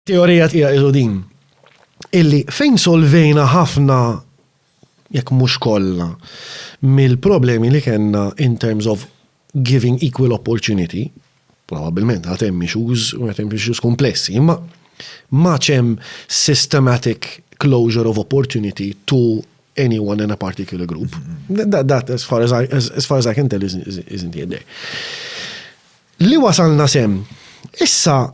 Teorija tiegħi ilu din illi fejn solvejna ħafna jekk mhux kollha mill-problemi li kellna in terms of giving equal opportunity, probabilment għad hemm issues u għad hemm issues komplessi, imma ma ċem systematic closure of opportunity to anyone in a particular group. Mm-hmm. That, that as, far as, I, as, as far as I can tell isn't, isn't yet there. Li wasalna sem, issa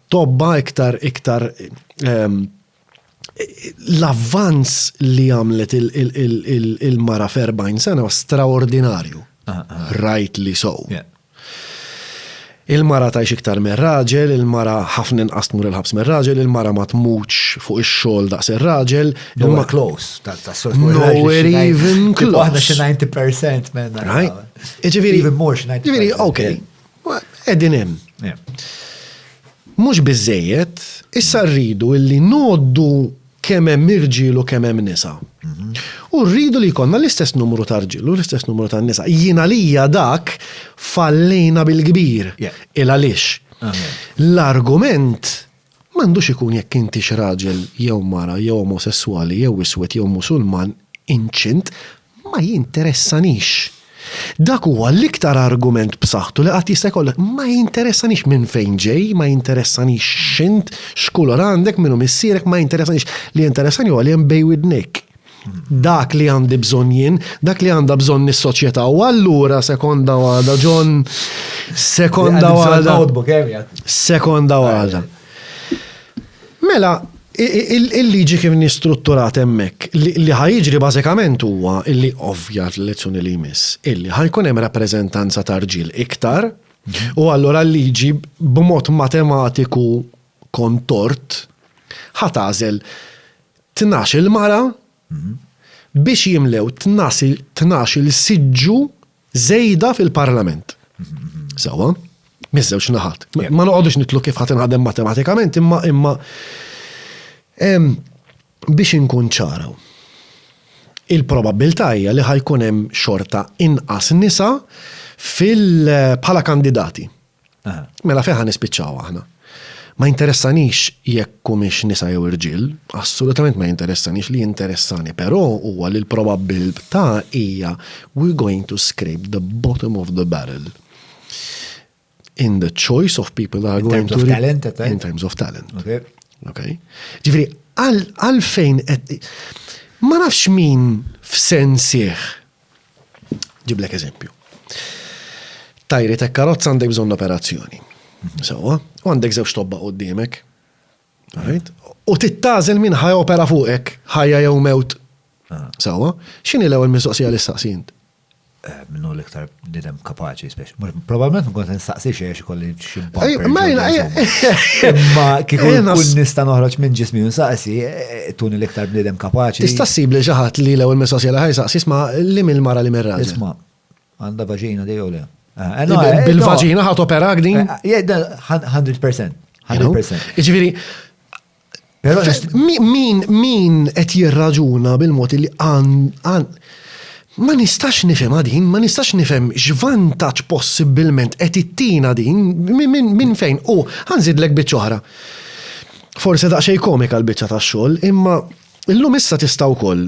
tobba iktar iktar ehm, l-avvanz li għamlet il-mara f'40 sena straordinarju. Ah, ah. Rajt li sow. Il-mara tajx iktar minn raġel, il-mara ħafna inqas tmur il-ħabs minn raġel, il-mara ma tmutx fuq ix-xogħol daqs ir-raġel. Nowhere close. Nowhere even close. Aħna xi 90% minn. Right? Iġifieri. Even more xi 90%. Iġifieri, okay. Qegħdin hemm. Mhux biżejjed, issa rridu illi ngħoddu kemm hemm irġiel u kemm hemm nisa. Mhm. U rridu li jkollna l-istess numru ta' rġiel u l-istess numru ta' nisa. Jien għalija dak fallejna bil-kbir. Il għaliex. L-argument M'għandux ikun jekk intix raġel jew mara jew omosesswali jew iswed jew Musulman inċint ma jinteressanix. Dak huwa l-iktar argument b'saħħtu li qatt jista' jkollok. Ma jinteressanix minn fejn ġej, ma jinteressanix x'int, x'kulur għandek, min hu missierek, ma jinteressanix. Li jinteressani huwa li hemm bejn widnejk. dak li għandi bżonn jien, dak li għandha bżonn is-soċjetà. U allura sekonda għada, John, sekonda għada. Sekonda għada. Mela, il-liġi kif nistrutturat hemmhekk li ħajġri bażikament huwa illi ovvja l-lezzjoni li jmiss, illi ħajkun hemm rappreżentanza tarġil iktar, u allura l-liġi b'mod matematiku kont tort, ħa tagħżel tnax-il mara biex jimlew tnax-il siġġu żejda fil-Parlament. Sewwa? Miż-żewġ naħat. Ma noqogħdux nitlu kif ħa tinħadem matematikament imma imma biex inkun ċara. Il-probabbiltà hija li ħa jkun hemm xorta inqas nisa fil bħala kandidati. Mela fejn ħa nispiċċaw aħna? Ma jinteressanix jekk humiex nisa jew irġiel, assolutament ma jinteressanix, li jinteressani però huwa li l-probabbiltà hija we're going to scrape the bottom of the barrel in the choice of people that are going to. In terms of talent, at In terms of talent. Okay. Okay. Ġifiri, għalfejn, ma nafx min f'sensieħ Ġiblek eżempju. Tajri ta' karozza għandek bżonn operazzjoni. Mhm. Sawa, u għandek żewġ tobba qudiemek. U tittażel minn ħaj opera fuqek, ħajja jew mewt. Ah. Sawa, x'inhi l-ewwel mistoqsija li staqsint? Eh, minnu l-iktar nidem kapaċi, probabilment nkun nistaqsi xiex kolli Ma Imma kieku kun nista' noħroġ minn ġismi u saqsi, eh, tuni l-iktar bniedem kapaċi. Tista' ssib li ġaħat li l-ewwel mistoqsija li ħajsaqsi isma' li mill-mara li mirra. Isma' għandha vaġina dej u le. Eh, eh, bil-vaġina ħat opera din? 100%. 100%. Iġifieri, Però min min qed jirraġuna bil-mod li għan ma nistax nifhem din, ma nistax nifhem x'vantaġġ possibbilment qed ittina din minn fejn u ħanżidlek biċċa oħra. Forse daqsxejn komika l-biċċa tax-xogħol, imma illum issa tista' wkoll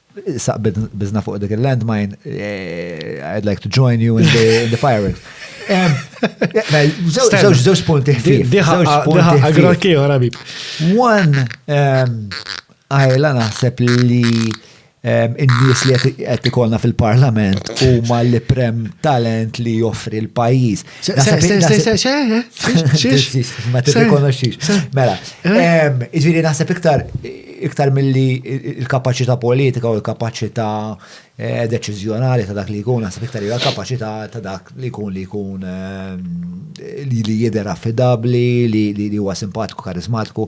Saq bizna fuq dik il-landmine, eh, I'd like to join you in the, in the firing. Zewġ punti ħfif. Zewġ punti ħfif. One, għajla naħseb li in-nies li qed ikolna fil-parlament huma li prem talent li joffri l-pajjiż. Ma t-rikonoxix. Mela, iġviri naħseb iktar iktar mill-li il-kapacita politika u l-kapacita eh, deċizjonali ta' dak li jkun, naħseb iktar hija kapacita ta' dak li jkun li jkun eh, li jider affidabli, li huwa simpatiku, karizmatiku,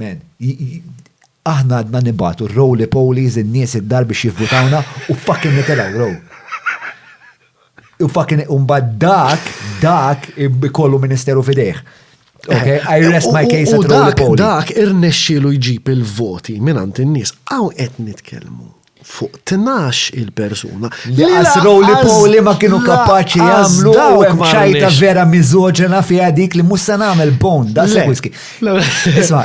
Men, aħna għadna nibgħatu r-roly polies in-nies id-dar biex jivvutawna u fucking nitilgħu row. U fucking u mbagħad dak, dak ikollu ministeru f'idejh. Okay, I eh, rest my case at roly polies. Dak irnexxielu jġib il-voti minn għand in-nies. Hawn qed nitkellmu fuq tnax il-persuna. Li għas roli poli ma kienu kapaċi għamlu u hemm ċajta vera miżoġena fiha dik li mhux se nagħmel bon da se whisky. Isma'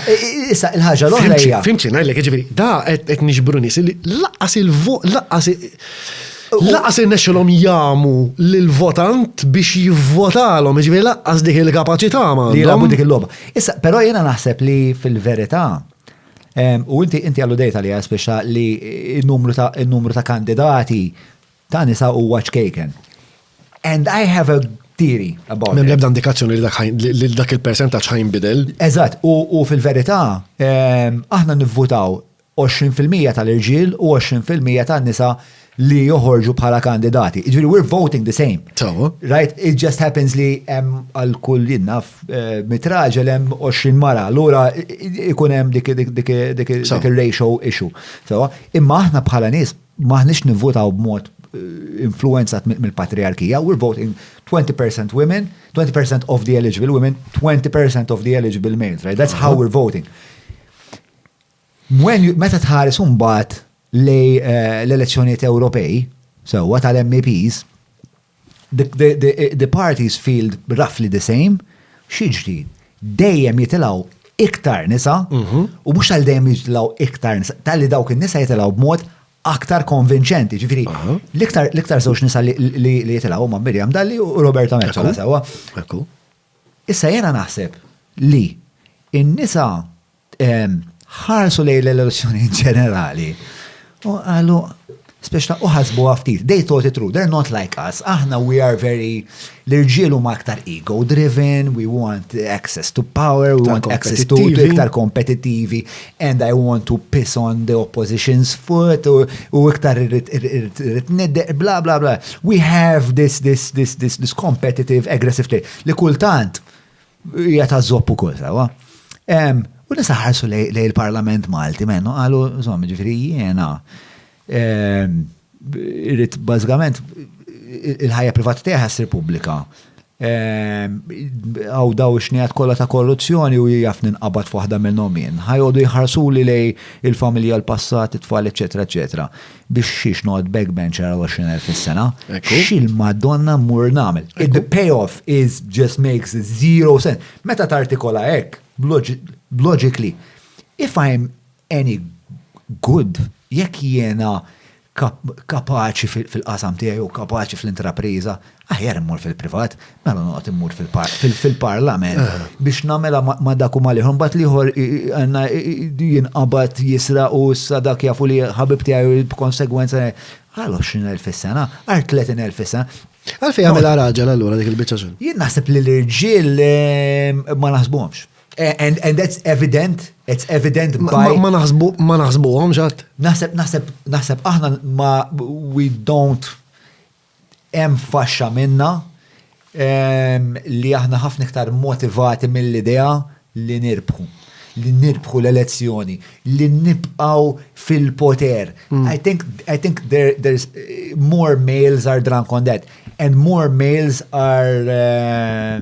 issa il-ħaġa l-oħra hija. Fimti ngħidlek jiġifieri da qed nixbru nies li laqas il-vot laqas laqas irnexxilhom jamu lill-votant biex jivvotalhom, jiġifieri laqas dik il-kapaċità ma. Li jilagħbu dik il-logħba. Issa però jiena naħseb li fil-verità U inti inti għallu dejta li għaspeċa li n-numru ta' kandidati ta' nisa u ċkejken. And I have a theory about it. Mem lebda indikazzjoni li dak il-percentaċ ħajn bidel. Eżat, u fil-verita, aħna nivvutaw 20% tal-irġil u 20% tal-nisa li joħorġu bħala kandidati. Ġviri, we're voting the same. Tawa. Right, it just happens li hemm għal kull jinnaf eh, mitraġel hemm 20 mara, l-ura ikun hemm dik il-ratio issue. Tawa, imma aħna bħala nis maħnix nivvotaw b'mod eh, influenzat mill-patriarkija, we're voting 20% women, 20% of the eligible women, 20% of the eligible males, right? That's how we're voting. Meta tħares imbagħad lej eh, l-elezzjonijiet Ewropej, sewwa tal-MEPs, the, the, the, the parties field roughly the same, xiġri, dejjem jitilaw iktar nisa, mhm. u mux tal dejjem jitilaw iktar nisa, tal-li dawk il-nisa jitilaw b'mod aktar konvinċenti, ġifiri, l-iktar zoċ nisa li jitilaw ma' Miriam Dalli u Roberta Mezzola, sewa. Issa jiena naħseb li n-nisa ħarsu lejn l-elezzjonijiet ġenerali u qalu speċta u ħasbuha ftit, they thought it through, they're not like us, aħna we are very, l-irġiel huma aktar ego driven, we want access to power, we want access to iktar kompetittivi, and I want to piss on the opposition's foot u iktar irrit nidde, bla bla bla. We have this, this, this, this, this competitive, aggressive play li kultant hija ta' zopp ukoll sawa. U nisa ħarsu lej il-Parlament Malti mennu qalu, żomm, ġifieri jiena Irrid bażikament il-ħajja privata tiegħi ħassir pubblika. Għaw daw ix-xnejat kollha ta' korruzzjoni u jaf ninqabad f'waħda minnhom jien. Ħajgħodu jħarsuli lej il-familja, l-passat, it-tfal, eċetera, eċetera. Biex xiex noqgħod backbencher għal 20,000 fis-sena. Xil Madonna mmur nagħmel. The payoff is just makes zero sense. Meta tartikola hekk, logically, if I'm any good jekk jiena kapaċi fil-qasam tiegħi jew kapaċi fl-intrapriża, aħjar immur fil-privat, mela noqgħod immur fil-parlament biex nagħmilha ma' dak u mal-ieħor. Mbagħad l-ieħor għandna jinqabad jisra u issa dak jafu li ħabib tiegħi b'konsegwenza għal 20,000 fis-sena, għal 30,000 fis-sena. Għalfejn għamilha raġel allura dik il-biċċa xogħol? Jien naħseb li l-irġiel ma naħsbuhomx. Eh, and, and that's evident, it's evident by... Ma naħsbu, ma naħsbu għom ġat? Naħseb, naħseb, naħseb aħna ma we don't em faxxa minna um, li aħna ħafna iktar motivati mill-idea li nirbħu li nirbħu l-elezzjoni, li nibqaw fil-poter. Mm. I think, I think there, there's eh, more males are drunk on that and more males are uh,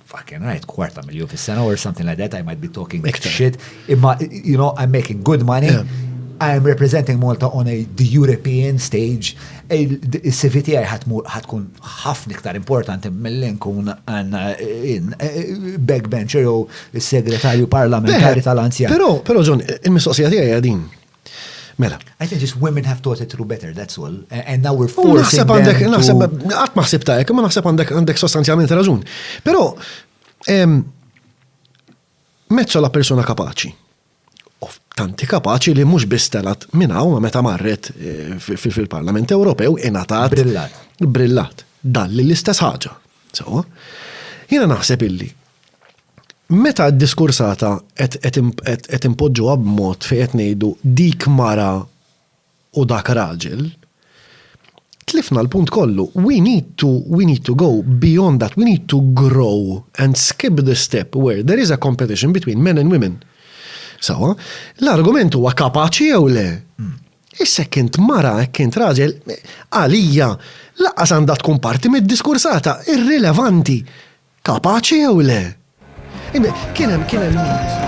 fucking right, kwarta miljon fis-sena or something like that, I might be talking Iktar. shit. Imma, you know, I'm making good money. Yeah. I am representing Malta on a, the European stage. Il-CV tiegħi ħatkun ħafna iktar importanti mill-li nkun għanna eh, eh, backbencher jew segretarju parlamentari tal-anzjan. Pero, pero John, il-mistoqsija tiegħi għadin. Mela. I think just women have taught it through better, that's all. And now we're forcing Naħseb għandek, naħseb, għat maħseb ta' ekk, ma naħseb għandek għandek sostanzjalment raġun. Pero, mezzo la persona kapaċi. Of tanti kapaċi li mux bistelat minnaw ma meta marret eh, fil-Parlament Ewropew inatat. Brillat. Brillat. Dalli l-istess ħaġa. So, jina naħseb illi Meta d-diskursata qed inpoġġuha b'mod fejn qed ngħidu dik mara u dak raġel, tlifna l-punt kollu. We need to, we need to go beyond that, we need to grow and skip the step where there is a competition between men and women. Sewwa, l-argument huwa kapaċi jew le? Issa jekk int mara, jekk int raġel, għalija lanqas għandha tkun parti mid-diskursata, irrilevanti. Ta' paċi jew le? Kien hemm kien hemm